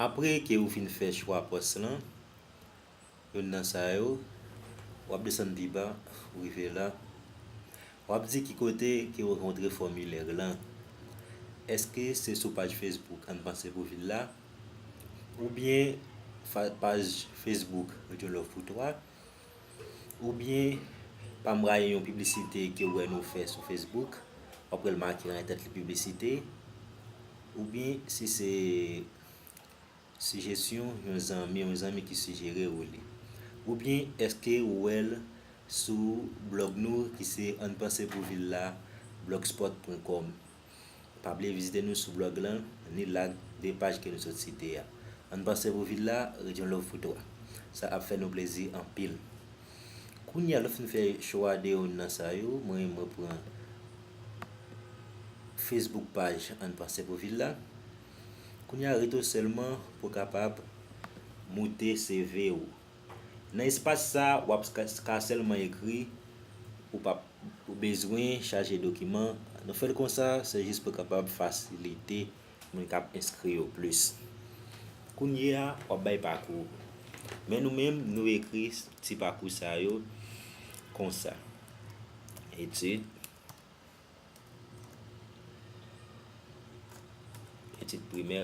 Apre ke ou fin fè chwa pòs lan, youn nan sa yo, w ap desann pi ba, ou rive la, w ap di ki kote ke ou rankontre fòmilèr lan. Eske se sou paj Facebook Ann Panse pou Vil la? Oubyen paj Facebook Radyo Love Pou Twa? Oubyen, pa m rayi yon piblisite ke w wè nou fè sou Facebook, w ap wè l make nan entèt li piblisite. Oubyen, si se sijesyon yon zanmi, yon zanmi ki sijere ou li. Oubyen, èske ou wè l sou blòg nou ki se ann panse pou vil la blogspot pwen kòm. Pa bliye vizite nou sou blog lan ni lak 2 paj ke nou sot site a. Ann panse pou vil la, ret yon love pou 3. Sa ap fè nou plezi anpil. Kounye a nou fin fè chwa de youn nan sa yo, mwen mwen pran Facebook paj ann panse pou vil la. Kounye a rete w sèlman pou kapab moute CV ou. Nan espas sa a, w ap ka sèlman ekri, ou p ap bezwen chaje dokiman. Nou fè l konsa, se jis pou kapab fasilite moun k ap enskri yo plis. Kounye a, w ap bay pakou ou. Men nou menm, nou ekri ti pakou sa yo konsa, Etid, Etid primè.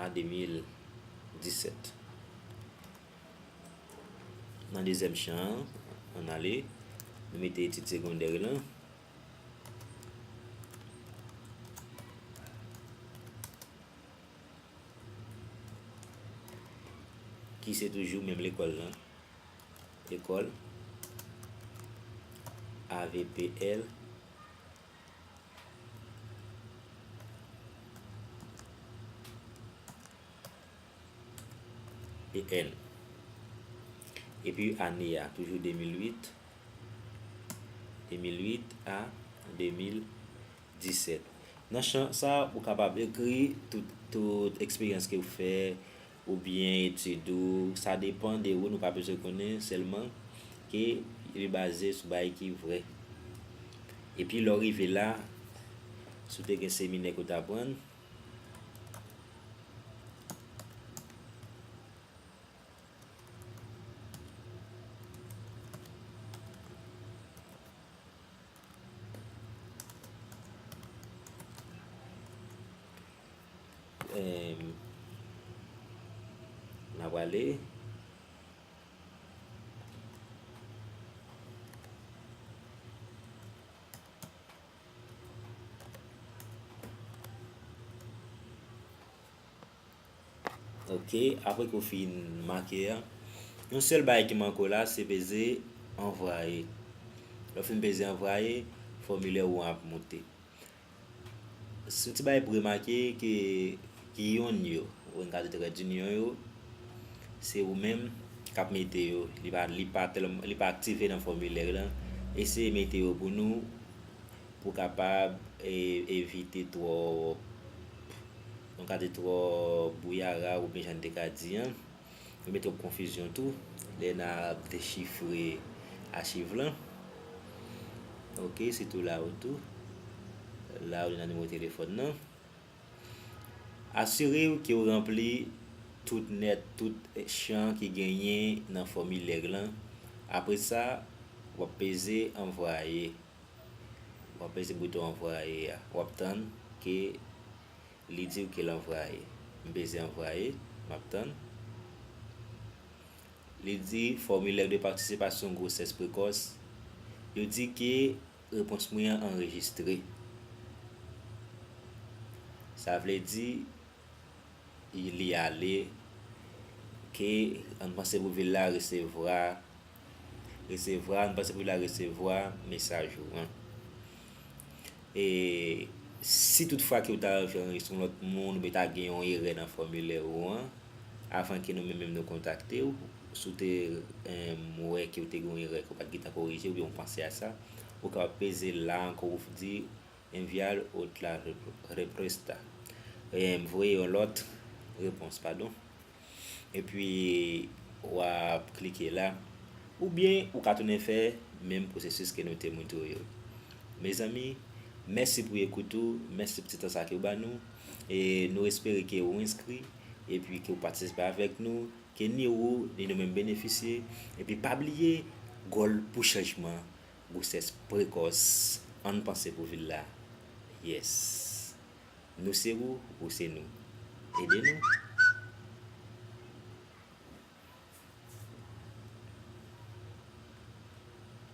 a 2017 nan dezyèm chan an ale nou mete etid segondè yo lan ki se toujou menm lekòl lan lekòl avpl Epl. Epi ane a toujou 2008, 2008 a 2017. Nan chan sa ou kapab ekri tout eksperyans ke ou fè, ou byen etid ou sa depan de ou nou pa bezwen konnen sèlman ke li baze sou bagay ki vrè epi lè w rive la si w te gen seminè ke w ta pran. Ok apre ke w fin make a, yon sèl bagay ki manke w la se peze anvwaye. Lè w fin peze anvwaye, fòmilè ou an ap moute. Son ti bagay pou remake ke ki yon yo, ou en ka di trèd inyon yo, se ou menm kap mete yo, li pa li pa tèlman li pa aktive nan fòmilè lan, eseye mete yo pou nou pou kapab evite twòp, nou ka di twòp bouyara oubyen jan n te ka di an. Yo mete yon konfizyon tou lè na ap dechifre achiv lan. Ok, se tou la ou tou. La ou nan nimewo telefòn nan. Asire ou ke ou ranpli tout nèt, tout chan ki genyen nan fòmilè lan. Apre sa, w ap peze anvwaye. W ap peze bouton anvwaye a. W ap tann ke Li diw kel anvwaye. M peze anvwaye, map tann. Li di fòmilè de patisipasyon gwosès prekòs. Yo di ke repons mwen an anrejistre. Sa vle di li ale ke ann panse pou vil la resevwa. Resevwa, nou pase pou li la resevwa mesaj ou an. E si tout fwa ke ou ta anvi anrejistre yon lòt moun oubyen ta gen yon erè nan fòmilè ou an, avan ke nou menm menm nou kontakte ou, si w te wè ke ou te gen yon erè ke ou pa t gen tan korije oubyen ou panse a sa, ou kapab peze la ankò pou w di enviar otra represta, voye yon lòt repons, padon. Epi wap klike la. Oubyen ou ka tounen fè menm pwosesis ke nou te montre w yo. Mezanmi, mèsi pou ekout ou, mèsi pou ti tan sa ke ou ba nou. E nou espere ke ou enskri, epi ke ou patisipe avèk nou, ke ni ou, ni nou menm benefisye. Epi pa bliye, Gòl pou chanjman, gwosès prekòs, ann panse pou vil la. Yes. Nou se ou, ou se nou. Ede nou.